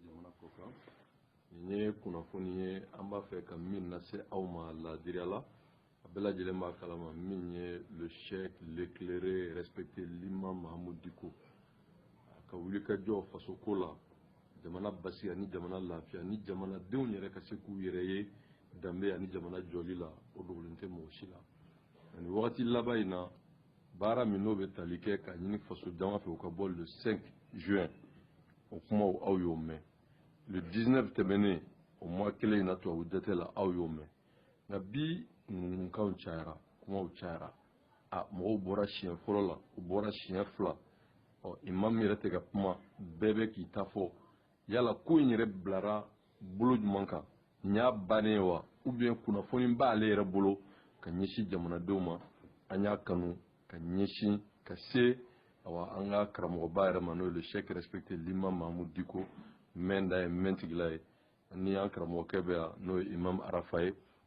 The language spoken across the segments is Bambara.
jamana ko kan nin ye kunnafoni ye an b'a fɛ ka min lase aw ma laadiriya la a bɛɛ lajɛlen b'a kalama min ye le cheikh l'éclairé respecté l'imam mahamud diko a ka wulikajɔ faso ko la jamana basigi ani jamana lafiya ni jamanadenw yɛrɛ ka se k'u yɛrɛ ye danbe ani jamana jɔli la o dogolen tɛ mɔgɔ si la ani wagati laban in na baara min n'o bɛ tali kɛ k'a ɲini faso jama fɛ u ka bɔ le 5 juin o kumaw aw y'o mɛn le 19 tɛmɛnen o mois kelen in na tubabu jate la aw y'o mɛn nka bi ŋunuŋunukanw cayara kumaw cayara a mɔgɔw bɔra siɲɛ fɔlɔ la u bɔra siɲɛ fila ɔ imamu yɛrɛ tɛ ka kuma bɛɛ bɛ k'i ta fɔ yala ko in yɛrɛ bilara bolo jumɛn kan nin y'a bannen ye wa ou bien kunnafoni b'ale yɛrɛ bolo ka ɲɛsin jamanadenw ma an y'a kanu ka ɲɛsin ka se awa an ka karamɔgɔba yɛrɛ ma n'o ye le cheikh respecté l'imam mahamud diko mɛnda ye mɛntigila ye ni an karamɔgɔkɛ bɛ yan n'o ye imam arafa ye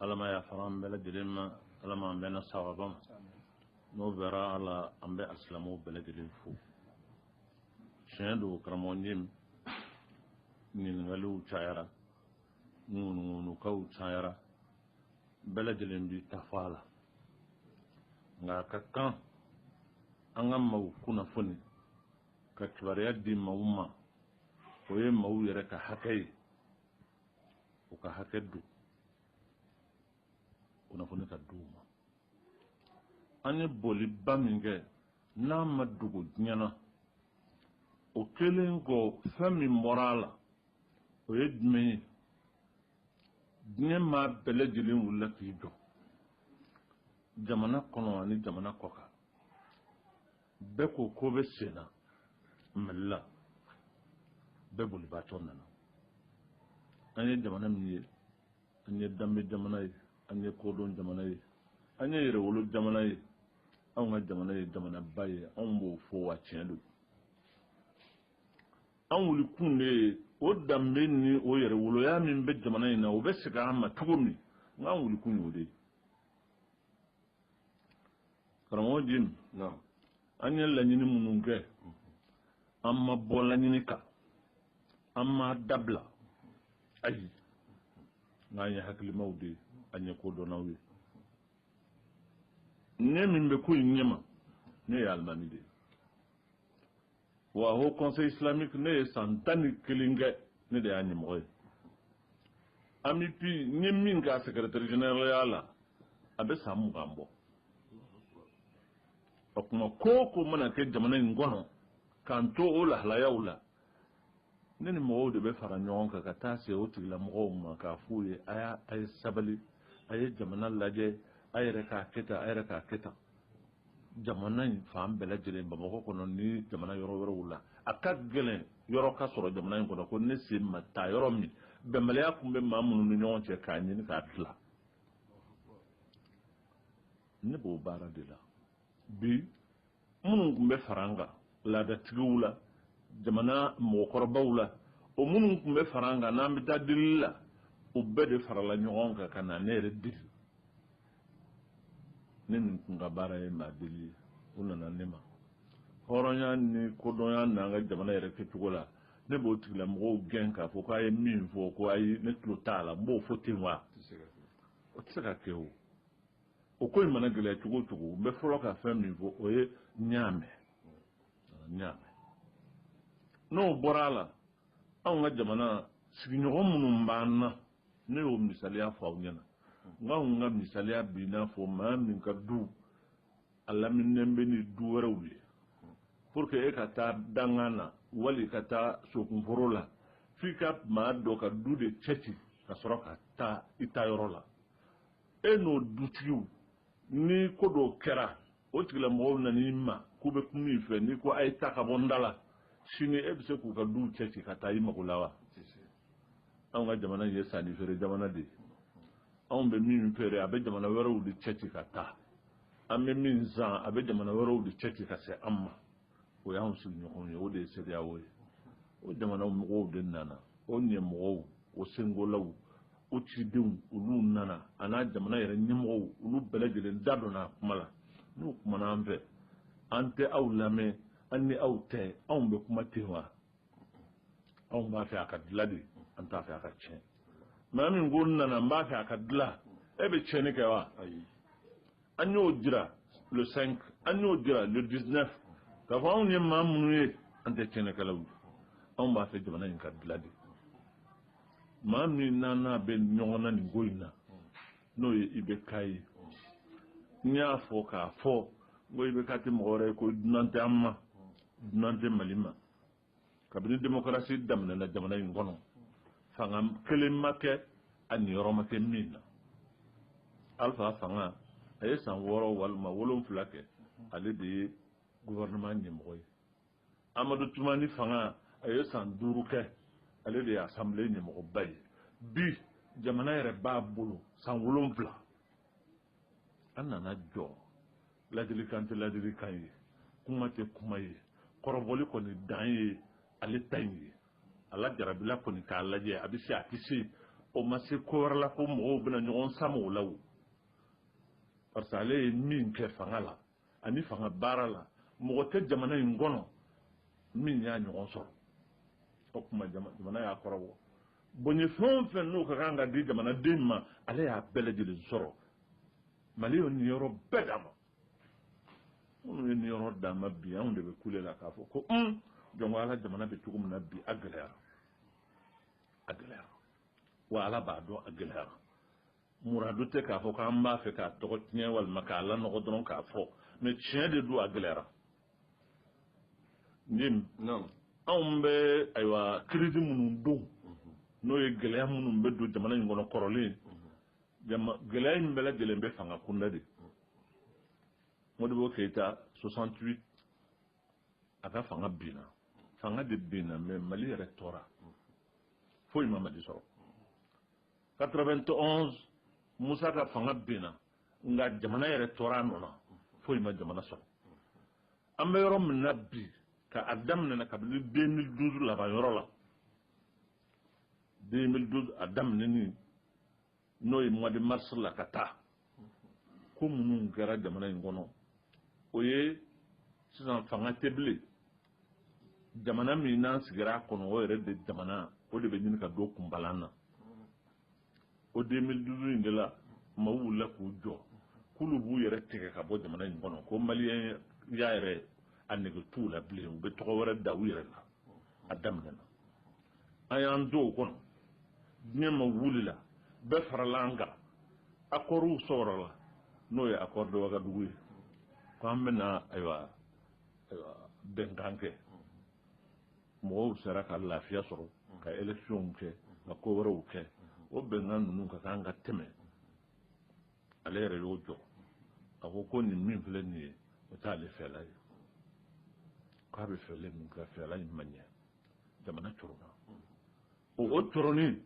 ala ma yafara an bɛɛ lajɛlen ma ala ma an bɛnna sawaba ma n'o bɔra a la an bɛ asilamu bɛɛ lajɛlen fo tiɲɛ don karamɔgɔ jim ɲininkaliw cayara ŋunuŋunukanw cayara bɛɛ lajɛlen b'i ta fɔ a la nka a ka kan an ka maw kunnafoni ka kibaruya di maw ma o ye maw yɛrɛ ka hakɛ ye u ka hakɛ don kunnafoni ka di u ma an ye bɔliba min kɛ n'a ma dogo diɲɛ na o kɛlen kɔ fɛn min bɔra a la o ye jumɛn ye diɲɛ maa bɛɛ lajɛlen wulila k'i jɔ jamana kɔnɔ ani jamana kɔkan bɛɛ ko ko bɛ sen na mali la bɛɛ bolibaatɔ nana an ye jamana min ye an ye danbe jamana ye an ye kodɔn jamana ye an ye yɛrɛwolo jamana ye anw ka jamana ye jamanaba ye anw b'o fɔ wa tiɲɛ don an wulikun de ye o danbe ni o yɛrɛwoloya min bɛ jamana in na o bɛ segin an ma cogo min na an wulikun y'o de ye karamɔgɔ jim an ye laɲini minnu kɛ an ma bɔ laɲini kan an ma dabila ayi nk'an ye hakilimaw de ye an ye kodɔnnaw ye ne min bɛ ko in ɲɛma ne ye alimami de ye wa haut conseil islamique ne ye san tan ni kelen kɛ ne de y'a ɲɛmɔgɔ ye AMUPI n ye min k'a secrétaire général la a bɛ san mugan bɔ o tuma ko o ko mana kɛ jamana in kɔnɔ k'an to o lahalayaw la ne ni mɔgɔw de bɛ fara ɲɔgɔn kan ka taa se o tigilamɔgɔw ma k'a f'u ye a y'a a ye sabali a ye jamana lajɛ a yɛrɛ k'a kɛ tan a yɛrɛ k'a kɛ tan jamana in fan bɛɛ lajɛlen bamakɔ kɔnɔ ni jamana yɔrɔ wɛrɛw la a ka gɛlɛn yɔrɔ ka sɔrɔ jamana in kɔnɔ ko ne sen ma taa yɔrɔ min bɛnbaliya tun bɛ maa minnu ni ɲɔgɔn cɛ k'a ɲini k'a dilan ne b'o baara de la bi minnu tun bɛ fara an kan laadatigiw la jamana mɔgɔkɔrɔbaw la o minnu tun bɛ fara an kan n'an bɛ taa delili la o bɛɛ de farala ɲɔgɔn kan ka na ne yɛrɛ deli ne nin kun ka baara ye maa deli ye u nana ne ma hɔrɔnya ni kodɔnya n'an ka jamana yɛrɛ kɛcogo la ne b'o tigilamɔgɔw gɛn k'a fɔ k'a ye min fɔ ko ayi ne tulo t'a la n b'o fɔ ten wa o tɛ se ka kɛ o o ko in mana gɛlɛya cogo o cogo n bɛ fɔlɔ ka fɛn min fɔ o ye n y'a mɛn n y'a mɛn n'o bɔra a la anw ka jamana sigiɲɔgɔn minnu b'an na ne y'o misaliya fɔ aw ɲɛna n k'an ka misaliya b'i n'a fɔ maa min ka du a laminen bɛ ni du wɛrɛw ye pour que e ka taa dangan na wali ka taa sokunforo la f'i ka maa dɔ ka du de cɛci ka sɔrɔ ka taa i taa yɔrɔ la e n'o dutigiw ni ko dɔw kɛra o tigilamɔgɔw nan'i ma k'u bɛ kuma i fɛ n'i ko a ye taa ka bɔ n da la sini e bɛ se k'u ka duw cɛ ci ka taa i mago la wa anw ka jamana ye sanni feere jamana de ye anw bɛ min feere a bɛ jamana wɛrɛw de cɛ ci ka taa an bɛ min san a bɛ jamana wɛrɛw de cɛ ci ka se an ma o y'an sigiɲɔgɔnw ye o de ye CEDEAO ye o jamana mɔgɔw de nana o ɲɛmɔgɔw o sengolaw o cidenw olu nana a n'a jamana yɛrɛ ɲɛmɔgɔw olu bɛɛ lajɛlen da donna a kuma la n'u kumana an fɛ an tɛ aw lamɛn an ni aw tɛ anw bɛ kuma ten wa anw b'a fɛ a ka dilan de an t'a fɛ a ka tiɲɛ maa min ko n nana n b'a fɛ a ka dilan e bɛ tiɲɛni kɛ wa ayi an y'o jira le 5 an y'o jira le 19 k'a fɔ anw ye maa minnu ye an tɛ tiɲɛnikɛlaw ye anw b'a fɛ jamana in ka dilan de maa min n'an n'a bɛ ɲɔgɔn na nin ko in na n'o ye IBK ye n y'a fɔ k'a fɔ n ko IBK tɛ mɔgɔ wɛrɛ ye ko dunan tɛ an ma dunan tɛ mali ma kabini demokarasi daminɛna jamana in kɔnɔ fanga kelen ma kɛ a niyɔrɔ ma kɛ min na alifa fanga a ye san wɔɔrɔ walima wolonfila kɛ ale de ye gouvernement ɲɛmɔgɔ ye amadu tumani fanga a ye san duuru kɛ ale de ye assemblée ɲɛmɔgɔba ye bi jamana yɛrɛ b'a bolo san wolonfila an nana jɔ ladilikan tɛ ladilikan ye kuma tɛ kuma ye kɔrɔbɔli kɔni dan ye ale ta in ye ala jarabila kɔni k'a lajɛ a bɛ se a tɛ se o ma se ko wɛrɛ la ko mɔgɔw bɛna ɲɔgɔn sama o la o parce que ale ye min kɛ fanga la ani fanga baara la mɔgɔ tɛ jamana in kɔnɔ min y'a ɲɔgɔn sɔrɔ o tuma jamana y'a kɔrɔbɔ bonya fɛn o fɛn n'o ka kan ka di jamanaden ma ale y'a bɛɛ lajɛlen sɔrɔ mali y'o niyɔrɔ bɛɛ d'a ma minnu ye niyɔrɔ d'a ma bi anw de bɛ kule la k'a fɔ ko un jɔn ko ala jamana bɛ cogo min na bi a gɛlɛyara a gɛlɛyara wa ala b'a dɔn a gɛlɛyara muradu tɛ k'a fɔ k'an b'a fɛ k'a tɔgɔ tiɲɛ walima k'a lanɔgɔ dɔrɔn k'a fɔ mais tiɲɛ de don a gɛlɛyara nin anw bɛ ayiwa crise minnu don n'o ye gɛlɛya minnu bɛ don jamana in kɔnɔ kɔrɔlen gɛlɛya in bɛɛ lajɛlen bɛ fanga kunda de modibo keyita 68 a ka fanga binna fanga de binna mais mali yɛrɛ tora foyi ma mali sɔrɔ 91 musa ka fanga binna nka jamana yɛrɛ tora a nɔ na foyi ma jamana sɔrɔ an bɛ yɔrɔ min na bi ka a daminɛna kabini 2012 laban yɔrɔ la 2012 a daminɛni n'o ye mois de mars la ka taa ko minnu kɛra jamana in kɔnɔ o ye sisan fanga tɛ bilen jamana min n'an sigira a kɔnɔ o yɛrɛ de jamana o de bɛ ɲini ka don kunbalan na o 2012 in de la maaw wulila k'u jɔ k'olu b'u yɛrɛ tigɛ ka bɔ jamana in kɔnɔ ko maliyɛnya yɛrɛ a nege t'u la bilen u bɛ tɔgɔ wɛrɛ da u yɛrɛ la a daminɛna an y'an to o kɔnɔ diɲɛ maa wulila bɛɛ farala an kan accords sɔrɔla n'o ye accord de wagadugu ye ko an bɛna ayiwa bɛnkan kɛ mɔgɔw sera ka lafiya sɔrɔ ka élections kɛ ka ko wɛrɛw kɛ o bɛnkan ninnu ka kan ka tɛmɛ ale yɛrɛ y'o jɔ a ko ko nin min filɛ nin ye o t'ale fɛla ye k'a bɛ fɛla min kɛ fɛla in ma ɲɛ jamana cɔrɔnna o o cɔrɔnni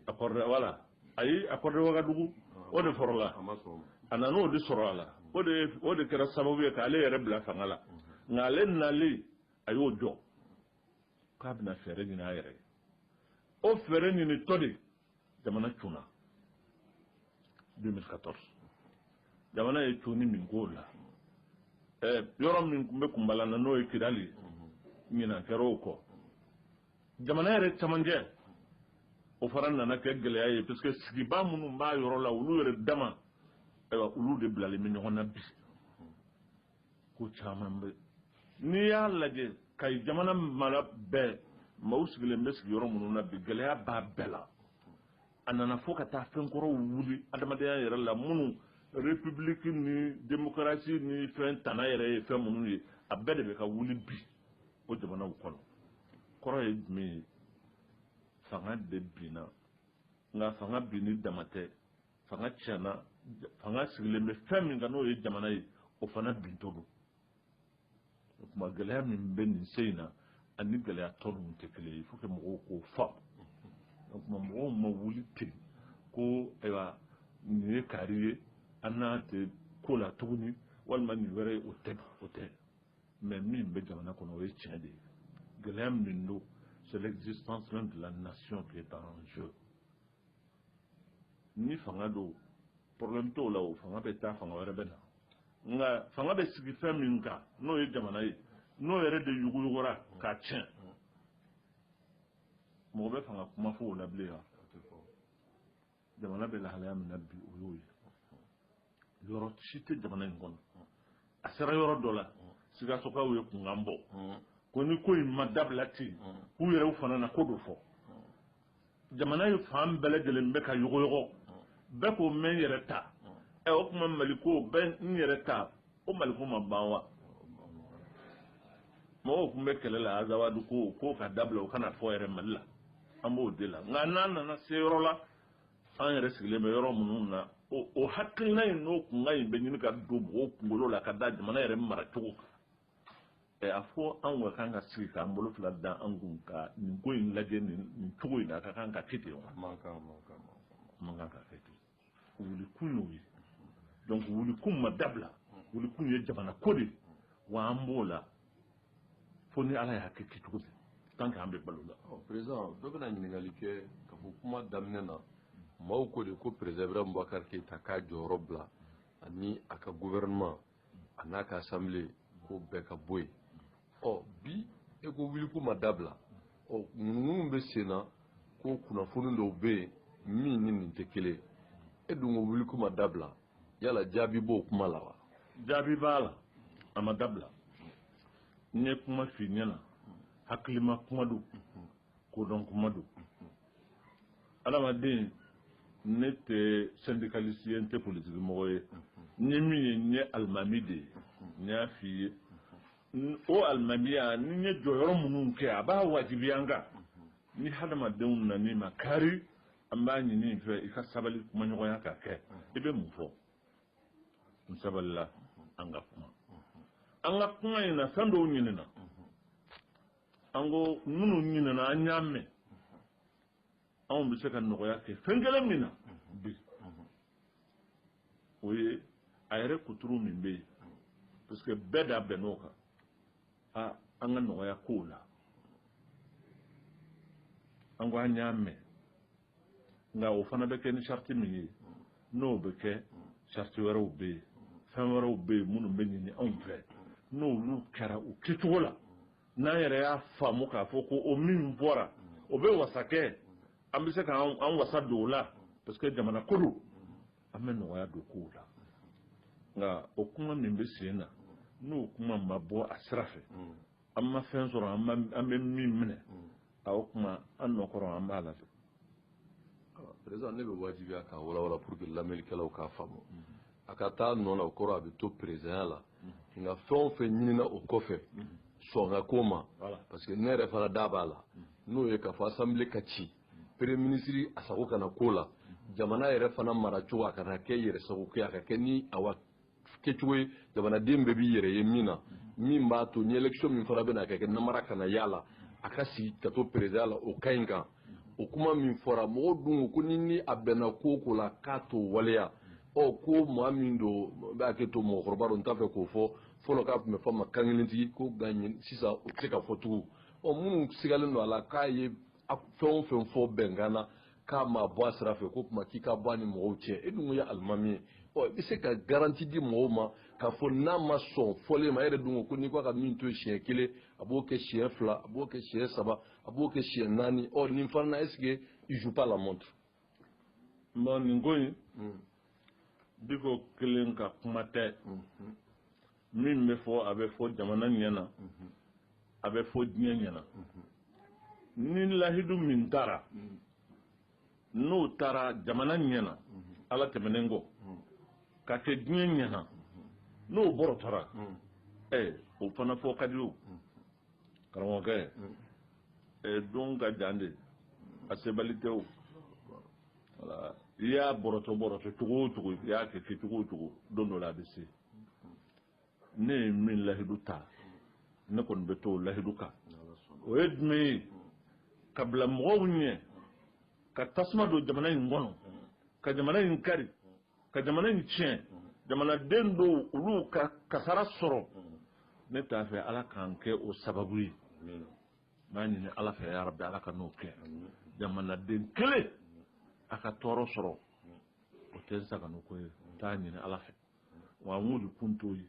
accord de voilà ayi accord de wagadugu o de fɔlɔla a nana o de sɔrɔ a la o de kɛra sababu ye k'ale yɛrɛ bila fanga la nka ale nalen a y'o jɔ k'a bɛna fɛɛrɛ ɲini a yɛrɛ ye o fɛɛrɛ ɲinitɔ de jamana cunna 2014 jamana ye cunni min k'o la yɔrɔ min tun bɛ kunbala na n'o ye kidali ye ɲinan kɛra o kɔ jamana yɛrɛ camancɛ o fana nana kɛ gɛlɛya ye parce que sigibaa minnu b'a yɔrɔ la olu yɛrɛ dama ayiwa olu de bilalen bɛ ɲɔgɔn na bi ko caman bɛ n'i y'a lajɛ ka jamana mara bɛɛ maaw sigilen bɛ sigiyɔrɔ minnu na bi gɛlɛya b'a bɛɛ la a nana fo ka taa fɛn kɔrɔw wuli adamadenya yɛrɛ la minnu république ni démocratie ni fɛn tana yɛrɛ ye fɛn minnu ye a bɛɛ de bɛ ka wuli bi o jamanaw kɔnɔ kɔrɔ ye jumɛn ye fanga de binna nka fanga binni dama tɛ fanga tiɲɛna fanga sigilen bɛ fɛn min kan n'o ye jamana ye o fana bintɔ don o tuma gɛlɛya min bɛ nin se in na ani gɛlɛya tɔ ninnu tɛ kelen ye faut que mɔgɔw k'o faamu o tuma mɔgɔw ma wuli ten ko ayiwa nin ye kaari ye an n'a tɛ ko la tuguni walima nin wɛrɛ ye o tɛ o tɛ mais min bɛ jamana kɔnɔ o ye tiɲɛ de ye gɛlɛya min don c'est l'existence même de la nation qui est en jeu ni fanga don problème t'o la o fanga bɛ taa fanga wɛrɛ bɛ na nka fanga bɛ sigi fɛn min kan n'o ye jamana ye n'o yɛrɛ de yuguyugura k'a tiɲɛ mɔgɔ bɛ fanga kuma fɔ o la bilen wa jamana bɛ lahalaya min na bi o y'o ye yɔrɔ si tɛ jamana in kɔnɔ a sera yɔrɔ dɔ la sikasokaw ye kunkan bɔ ko ni ko in ma dabila ten k'u yɛrɛw fana na ko dɔ fɔ jamana ye fan bɛɛ lajɛlen bɛ ka yɔgɔyɔgɔ bɛɛ ko n bɛ n yɛrɛ ta ɛ o tuma mali ko bɛɛ n yɛrɛ ta o mali ko ma ban wa mɔgɔw tun bɛ kɛlɛ la azawadu ko k'o ka dabila o kana fɔ yɛrɛ mali la an b'o de la nka n'an nana se yɔrɔ la an yɛrɛ sigilen bɛ yɔrɔ minnu na o hakilina in n'o kunkan in bɛ ɲini ka don mɔgɔw kunkolo la ka da jamana yɛrɛ maracogo kan a fɔ anw ka kan ka sigi k'an bolo fila da an kun ka nin ko in lajɛ nin cogo in na a ka kan ka kɛ ten wa man kan ka kɛ ten wulikun y'o ye donc wulikun ma dabila wulikun ye jamana ko de ye wa an b'o la fo ni ala y'a kɛ kɛcogo dɛ tant que an bɛ balo la président dɔ bɛna ɲininkali kɛ k'a fɔ kuma daminɛ na maaw ko de ko président ibrahim boubacar keïta k'a jɔyɔrɔ bila ani a ka gouvernement a n'a ka assemblée ko bɛɛ ka bɔ yen ɔ bi e ko wulikun ma dabila ɔ ŋunuŋunu bɛ sen na ko kunnafoni dɔw bɛ yen min ni nin tɛ kelen e dun ko wulikun ma dabila yala jaabi b'o kuma la wa jaabi b'a la a ma dabila n ye kuma f'i ɲɛna hakilima kuma don kodɔn kuma don adamaden ne tɛ syndicaliste ye n tɛ politiki mɔgɔ ye n ye min ye n ye alimami de ye n y'a f'i ye o alimamiya ni n ye jɔyɔrɔ minnu kɛ a b'a wajibiya n kan ni hadamadenw nan'i makari an b'a ɲin'i fɛ i ka sabali kumaɲɔgɔnya ka kɛ i bɛ mun fɔ n sabalila an ka kuma an ka kuma in na fɛn dɔw ɲinina an ko minnu ɲinina an y'a mɛn anw bɛ se ka nɔgɔya kɛ fɛn kelen min na bi o ye a yɛrɛ kuturu min bɛ yen parce que bɛɛ da bɛnn'o kan aa an ka nɔgɔya kow la an ko an y'a mɛn nka o fana bɛ kɛ ni sariti min ye n'o bɛ kɛ sariti wɛrɛw bɛ yen fɛn wɛrɛw bɛ yen minnu bɛ ɲini anw fɛ n'olu kɛra u kɛcogo la n'an yɛrɛ y'a faamu k'a fɔ ko o min bɔra o bɛ wasa kɛ an bɛ se k'an wasa don o la parce que jamana ko don an bɛ nɔgɔya don kow la nka o kuma min bɛ sen na n'o kuma ma bɔ a sira fɛ an ma fɛn sɔrɔ an bɛ min minɛ o kuma an nɔkɔrɔ an b'a la fɛ perezidan ne bɛ wajibiya k'a walawala pour que lamɛnnikɛlaw k'a faamu a ka taa nɔ la o kɔrɔ a bɛ to perezidanya la nka fɛn o fɛn ɲinina o kɔfɛ sɔn ka k'o ma parce que ne yɛrɛ fana da b'a la n'o ye k'a fɔ assemblée ka ci premier ministre a sago kana k'o la jamana yɛrɛ fana maracogo a kana kɛ yɛrɛ sago kɛ a ka kɛ ni awa kɛcogo ye jamanaden bɛɛ b'i yɛrɛ ye min na min b'a to ni élection min fana bɛna kɛ kɛ namara kana y'a la a ka sigi ka to perezidan la o ka ɲi nka o kuma min fɔra mɔgɔw dun ko ni ni a bɛnna ko o ko la k'a t'o waleya ɔ ko maa min don b'a kɛ to mɔgɔkɔrɔba don n t'a fɛ k'o fɔ fɔlɔ k'a tun bɛ fɔ a ma kankelentigi ko nka sisan o tɛ se ka fɔ tugun ɔ minnu sigalen don a la k'a ye a fɛn o fɛn fɔ bɛnkan na k'a ma bɔ a sira fɛ k'o tuma k'i ka bɔ a ni mɔgɔw cɛ e dun ye alimami ye ɔ i bɛ se ka garanti di mɔgɔw ma k'a fɔ n'a ma sɔn fɔlen ma e yɛrɛ dun ko ko n'i k'a ka min to siɲɛ kelen a b'o kɛ siɲɛ fila a b'o kɛ siɲɛ saba a b'o kɛ siɲɛ naani ɔ nin fana na est-ce que il joue pas la montre. non nin ko in hmm. Diko kelen ka kuma tɛ. Hmm. min bɛ fɔ a bɛ fɔ jamana ɲɛ na a bɛ fɔ diɲɛ ɲɛ na ni lahidu min taara n'o taara jamana ɲɛ na ala tɛmɛnen kɔ ka kɛ diɲɛ ɲɛ na n'o bɔrɔtɔra ɛ o fana fɔ ka di o karamɔgɔkɛ ɛ don ka jan de a sebali tɛ o i y'a bɔrɔtɔ bɔrɔtɔ cogo o cogo i y'a kɛ kɛ cogo o cogo don dɔ la a bɛ se ne ye min lahidu ta ne kɔni bɛ to o lahidu kan o ye jumɛn ye ka bila mɔgɔw ɲɛ ka tasuma don jamana in kɔnɔ ka jamana in kari ka jamana in tiɲɛ jamanaden dɔw olu ka kasara sɔrɔ ne t'a fɛ ala k'an kɛ o sababu ye n b'a ɲini ala fɛ yarabi ala kan'o kɛ jamanaden kelen a ka tɔɔrɔ sɔrɔ o tɛ n sagonako ye n t'a ɲini ala fɛ wa an wulikun t'o ye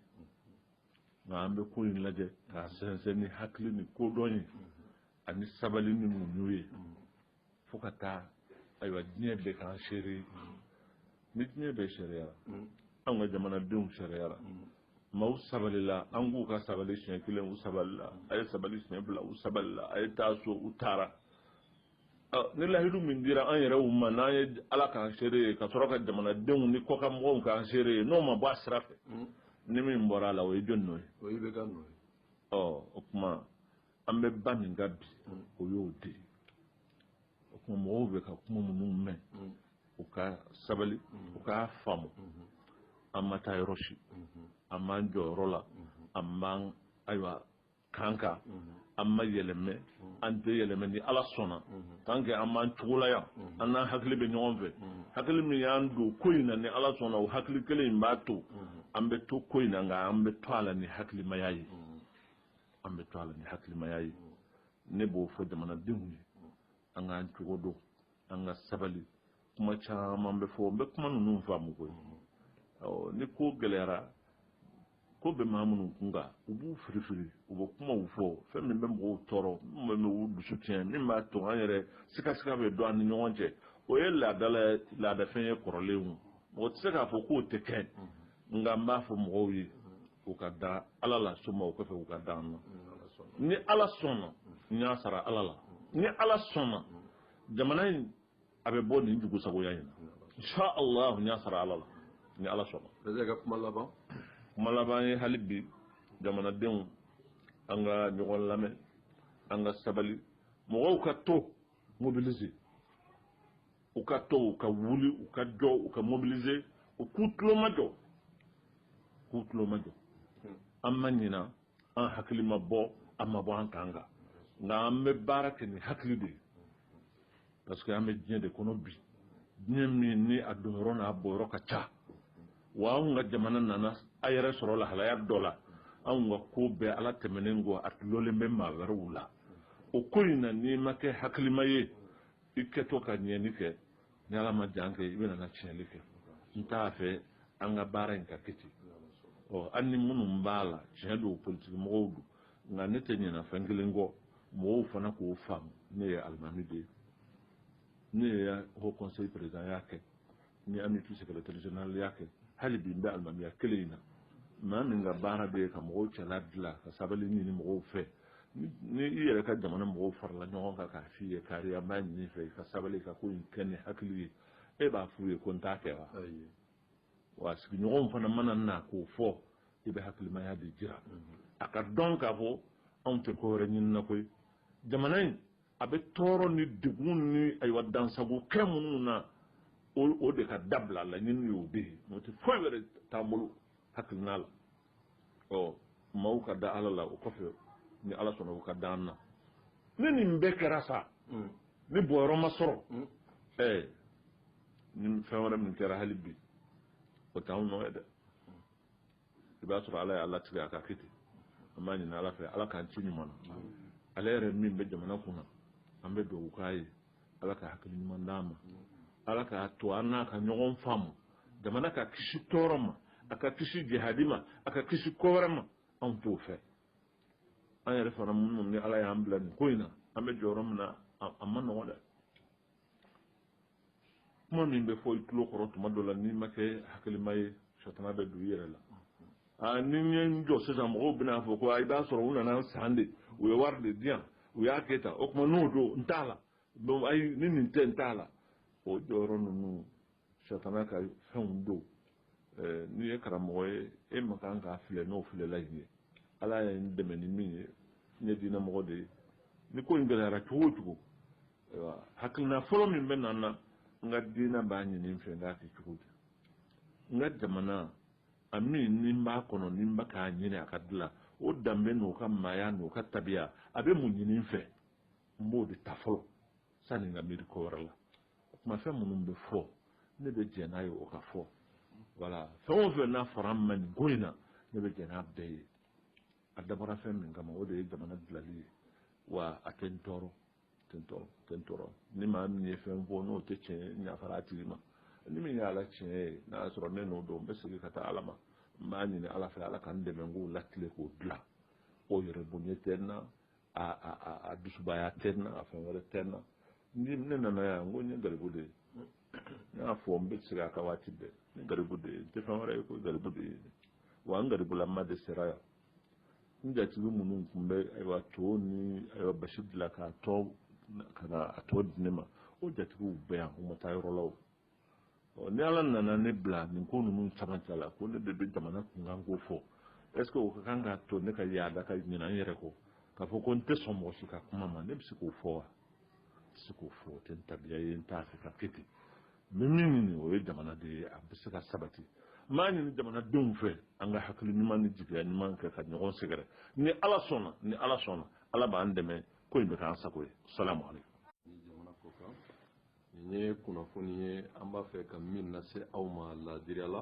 nka an bɛ ko in lajɛ k'a sɛnsɛn ni hakili ni kodɔn ye ani sabali ni muɲu ye fo ka taa ayiwa diɲɛ bɛɛ k'an seere ni diɲɛ bɛɛ seereyara anw ka jamanadenw seereyara maaw sabalila an k'u ka sabali siɲɛ kelen u sabalila a ye sabali siɲɛ fila u sabalila a ye taa so u taara ni lahidu min dira an yɛrɛw ma n'an ye ala k'an seere ye ka sɔrɔ ka jamanadenw ni kɔkanmɔgɔw k'an seere ye n'o ma bɔ a sira fɛ hmm. ni min bɔra a la o ye jɔni nɔ ye o ye ibeka nɔ ye ɔ o tuma an bɛ ba min kan bi hmm. o y'o de ye o tuma mɔgɔw bɛ ka kuma minnu mɛn hmm. u ka sabali u k'a faamu an ma taa yɔrɔ si an b'an jɔyɔrɔ la an b'an ayiwa kan kan an ma yɛlɛmɛ an tɛ yɛlɛmɛ ni ala sɔnna tant que an b'an cogo la yan an n'an hakili bɛ ɲɔgɔn fɛ hakili min y'an don ko in na ni ala sɔnna o hakili kelen in b'a to an bɛ to ko in na nka an bɛ to a la ni hakilimaya ye an bɛ to a la ni hakilimaya ye ne b'o fɔ jamanadenw ye an k'an cogo dɔn an ka sabali kuma caman bɛ fɔ n bɛ kuma ninnu faamu koyi ni ko gɛlɛyara ko bɛ maa minnu kun kan u b'u firifiri u bɛ kumaw fɔ fɛn min bɛ mɔgɔw tɔɔrɔ min bɛ u dusu tiɲɛ min b'a to an yɛrɛ sikasika bɛ don an ni ɲɔgɔn cɛ o ye laadala laadafɛn ye kɔrɔlen o mɔgɔ tɛ se k'a fɔ k'o tɛ kɛ nka n b'a fɔ mɔgɔw ye u ka da ala la soma o kɔfɛ u ka da an na ni ala sɔnna n y'a sara ala la ni ala sɔnna jamana in a bɛ bɔ nin jugusagoya in na insha allah n y'a sara ala la ni ala sɔnna bɛɛ ka kuma laban kuma laban ye hali bi jamanadenw an ka ɲɔgɔn lamɛn an ka sabali mɔgɔw ka to mobiliser u ka to u ka wuli u ka jɔ u ka mobiliser u k'u tulomajɔ k'u tulomajɔ an ma ɲina an hakili ma bɔ an ma bɔ an kan kan nka an bɛ baara kɛ ni hakili de ye parce que an bɛ diɲɛ de kɔnɔ bi diɲɛ min ni a donyɔrɔ n'a bɔyɔrɔ ka ca wa anw ka jamana nana a yɛrɛ sɔrɔ lahalaya dɔ la anw ka ko bɛɛ ala tɛmɛnen kɔ a dulonnen bɛ maa wɛrɛw la o ko in na n'i ma kɛ hakilima ye i kɛtɔ ka ɲɛni kɛ ni ala ma jan kɛ i bɛna na tiɲɛli kɛ n t'a fɛ an ka baara in ka kɛ ten ɔ an ni minnu b'a la tiɲɛ don politiki mɔgɔw don nka ne tɛ ɲinɛ fɛn kelen kɔ mɔgɔw fana k'o faamu ne ye alimami de ye ne ye haut conseil présidentya kɛ n ye amupi secrétaire généralya kɛ hali bi n bɛ alimamiya kelen in na maa min ka baara bɛɛ ye ka mɔgɔw cɛla dilan ka sabali ɲini mɔgɔw fɛ ni i yɛrɛ ka jamana mɔgɔw farala ɲɔgɔn kan k'a f'i ye kari an b'a ɲini i fɛ i ka sabali ka ko in kɛ ni hakili ye e b'a f'u ye ko n t'a kɛ wa wa sigiɲɔgɔnw fana mana na k'o fɔ i bɛ hakilimaya de jira a k'a dɔn k'a fɔ anw tɛ ko wɛrɛ ɲinina koyi jamana in a bɛ tɔɔrɔ ni degun ni ayiwa dansago kɛ minnu na o de ka dabila laɲini y'o bɛɛ ye n'o tɛ foyi wɛrɛ t'an bolo hakilina la ɔ maaw ka da ala la o kɔfɛ ni ala sɔnna u ka da an na ni nin bɛɛ kɛra sa mm. ni bɔyɔrɔ ma sɔrɔ mm. ɛɛ ni fɛn wɛrɛ min kɛra hali bi o t'anw nɔ ye dɛ i b'a sɔrɔ ala y'a latigɛ a ka kɛ ten an b'a ɲini ala fɛ ala k'an tin ɲuman na ale yɛrɛ min bɛ jamana kunna an bɛ dugawu k'a ye ala ka hakili ɲuman d'a ma ala k'a to an n'a ka ɲɔgɔn faamu jamana ka kisi tɔɔrɔ ma a ka kisi jihadi ma a ka kisi ko wɛrɛ ma anw t'o fɛ an yɛrɛ fana minnu ni ala y'an bila nin ko in na an bɛ jɔyɔrɔ min na a ma nɔgɔn dɛ kuma min bɛ fɔ i tulo kɔrɔ tuma dɔ la n'i ma kɛ hakilima ye sitanɛ bɛ don i yɛrɛ la aa ni n ye n jɔ sisan mɔgɔw bɛna fɔ ko i b'a sɔrɔ u nan'a san de u ye wari de di yan u y'a kɛ tan o tuma n'o don n t'a la donc ayi ni nin tɛ n t'a la o jɔyɔrɔ ninnu sitanɛ ka fɛnw don n'i ye karamɔgɔ ye e man kan k'a filɛ n'o filɛlan ye ala ye n dɛmɛ ni min ye n ye diinɛmɔgɔ de ye ni ko in gɛlɛyara cogo o cogo ayiwa hakilina fɔlɔ min bɛ na n na n ka diinɛ b'a ɲini n fɛ n k'a kɛ cogo di n ka jamana a min ni n b'a kɔnɔ ni n bɛ k'a ɲini a ka dilan o danbe n'o ka maaya n'o ka tabiya a bɛ mun ɲini n fɛ n b'o de ta fɔlɔ sani n ka miiri ko wɛrɛ la o tuma fɛn minnu bɛ fɔ ne bɛ jɛn n'a ye o ka fɔ wala fɛn o fɛn n'a fɔra n ma nin ko in na ne bɛ jɛn n'a bɛɛ ye a dabɔra fɛn min kama o de ye jamana dilali ye wa a tɛ n tɔɔrɔ tɛ n tɔɔrɔ tɛ n tɔɔrɔ ni maa min ye fɛn fɔ n'o tɛ tiɲɛ ye n yafara a tigi ma ni min ye ala tiɲɛ ye n'a y'a sɔrɔ ne nɔ don n bɛ segin ka taa ala ma n b'a ɲini ala fɛ ala ka n dɛmɛ n k'o latile k'o dilan o yɛrɛ bonya tɛ n na a dusubaya tɛ n na a fɛn wɛrɛ tɛ n na ni ne nana yan n ko n ye garibu de ye ne y'a fɔ n bɛ segin a kan waati bɛɛ n ye garibu de ye n tɛ fɛn wɛrɛ ye ko garibu de ye wa n garibulama de sera yan n jatigi minnu tun bɛ ayiwa to ni ayiwa basi dilan k'a tɔ ka na a tɔ di ne ma o jatigiw bɛ yan u ma taa yɔrɔ la o ɔ ni ala nana ne bila nin ko ninnu camancɛ la ko ne de bɛ jamana kunkan ko fɔ est ce que o ka kan k'a to ne ka yaada ka ɲinɛ n yɛrɛ kɔ k'a fɔ ko n tɛ sɔn mɔgɔ si ka kuma ma ne bɛ se k'o fɔ wa n tɛ se k'o fɔ o tɛ n tabiya ye n t'a fɛ ka kɛ ten n bɛ min ɲini o ye jamana de ye a bɛ se ka sabati n b'a ɲini jamanadenw fɛ an ka hakili ɲuman ni jigiya ɲuman kɛ ka ɲɔgɔn sɛgɛrɛ ni ala sɔnna ni ala sɔnna ala b'an dɛmɛ ko in bɛ k'an sago ye salamu aleykum nin ye kunnafoni ye an b'a fɛ ka min lase aw ma laadiriya la